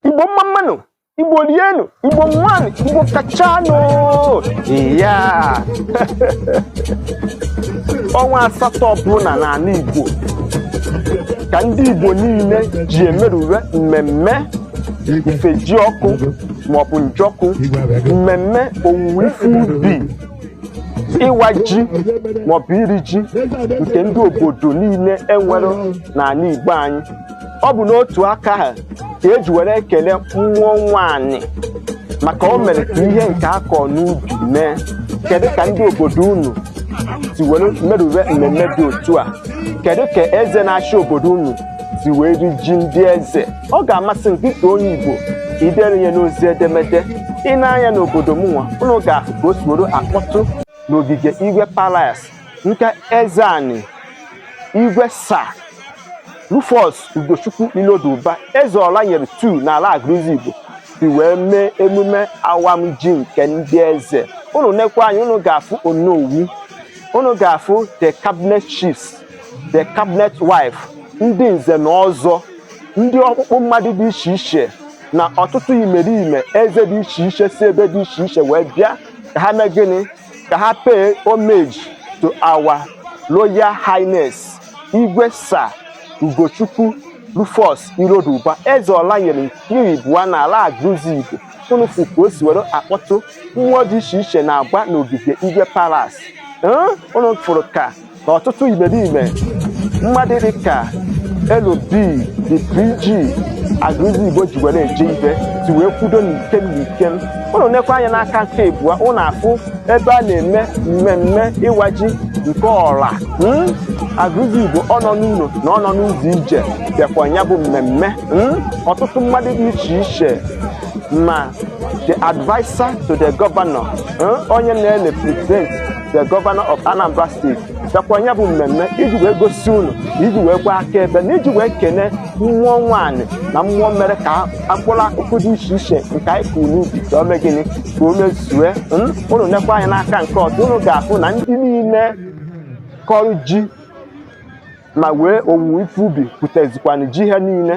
igbo mma mma nụ igbo rienụ igbo ṅụanụ igbo kachanụ iyaa ọnwa asatọ ọbụla n'ala igbo ka ndị igbo niile ji emerube mmemme ifejiọkụ maọbụ njọkụ mmemme owuwe ife ubi ịwa ji maọbụ iri ji nke ndị obodo niile e nwere n'ala igbo anyị ọ bụ n'otu aka ahụ ka e ji were ekele mmụọ nwaanyị maka o mere ka ihe nke a kọ n'ubi mee kedu ka ndị obodo unu si were merube mmemme dị otu a kedu ka eze na-achị obodo unu si wee ri ji ndị eze ọ ga-amasị m gị ka onye igbo idere ya n'ozi edemede i nee anya n'obodo mụnwa unu ga-ahụ ka o si were akpọtụ n'ogige igwe palace nke eze anyị Igwe Sir Rufus Ugochukwu Iloduba Eze Ọranyelu two n'ala Aguluzigbo si wee mee emume awam ji nke ndị eze unu nekwa anya unu ga-afụ onowu unu ga-afụ the cabinet chiefs the cabinet wife ndị nze na ọzọ ndị ọkpụkpụ mmadụ dị iche iche na ọtụtụ imerime eze dị iche iche si ebe dị iche iche wee bịa ka ha mee gịnị ka ha pay homage to our Royal Highness Igwe Sir Ugochukwu Rufus Iloduba Eze Ọranyelu nke ịbụa n'ala Aguluzigbo unu fụ ka o si were akpọtụ mmụọ dị iche iche na-agba n'ogige Igwe Palace Ee, unu fụrụ ka ọtụtụ imerime mmadụ dị ka LB the PG Aguluzigbo ji were eje ibe si wee kwudo n'ikem n'ikem unu nekwa anya n'aka nke ịbụa unu afụ ebe a na-eme mmemme ịwa ji nke ọra hmm? Aguluzigbo ọ nọ n'ụlọ na ọ nọ n'ụzọ ije bịakwa ya bụ mmemme hmm? ọtụtụ mmadụ dị iche iche ma the adviser to the governor hmm? onye na-represent the governor of Anambra State bịakwa ya bụ mmemme iji wee gosi unu iji wee gbaa akaebe na iji wee kene mmụọ nwaanyị na mmụọ mere ka mkpụrụ akụkụ dị iche iche nke anyị kụrụ n'ubi ka o mee gịnị ka o mezue unu nekwa anya n'aka nke ọzọ unu ga-afụ na ndị niile kọrọ ji ma wee owuwe ife ubi pụtazikwana ji ha niile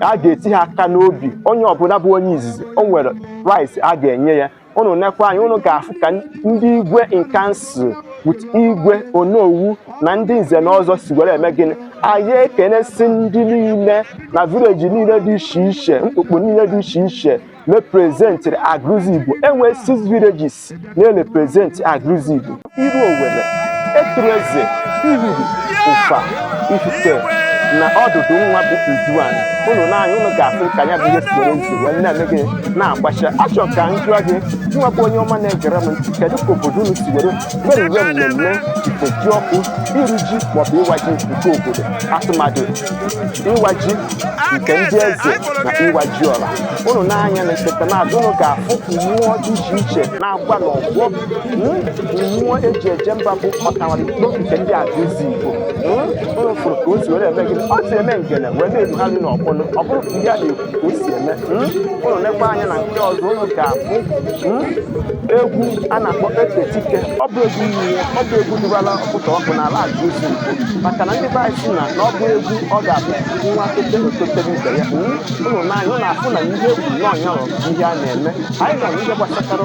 a ga-eti ha aka n'obi onye ọbụla bụ onye izizi o nwere rice a ga-enye ya unu nekwa anya unu ga-afụ ka ndị igwe in council with igwe onowu na ndị nze na ọzọ si were eme gịnị anyị ekenesi ndị niile na village niile dị iche iche mkpukpu niile dị iche iche representịrị Aguluzigbo e nwe six villages na-represent Aguluzigbo iruowelle etuleze ihulu ụfa ifite na ọdụdụ nwa bụ nduana ụnụ nee anya ụnụ ga-afụ ka ya bụ ihe si werezi wee na-eme gịnị na-agbacha achọ ka m jụọ gị nwa bụ onye ọma na-egere m ntị kedu ka obodo unu si were meruwe mmemme ifejiọkụ iri ji maọbụ ịwa ji nke obodo atụmadụ ịwa ji nke ndị eze na ịwa ji ọra ụnụ nee anya na nseta n'azụ ụnụ ga-afụ mmụọ dị iche iche na-agba n'ọgbọ mmụọ eji eje mba bụ ọtawara ikpo nke ndị agụlụzigbo unu fụrụ ka o si were eme gịnị o si eme ngene wee na-erugharị n'ọgbọ ọ bụrụ ka ihe a na-ekwu ka o si eme unu nekwa anya na nke ọzọ unu ga-afụ egwu a na-akpọ ekpetike ọ bụ egwu ihe ọ bụ egwu dịbara ọkụta ọkụ n'ala agụlụzigbo maka na ndị be anyị sị na na ọ bụ egwu ọ ga-abụ nwa ote ototere ibe ya unu nee anya unu afụ na ihe egwu na ọnya ihe a na-eme anyị nọ n'ihe gbasatara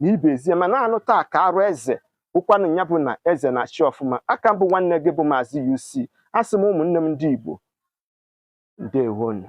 na ibe ezie mana anụ taa ka arụ eze ụkwanụ ya bụ na eze na-achị ọfụma aka m bụ nwanne gị bụ maazị UC asị m ụmụnne m ndị Igbo ndewonu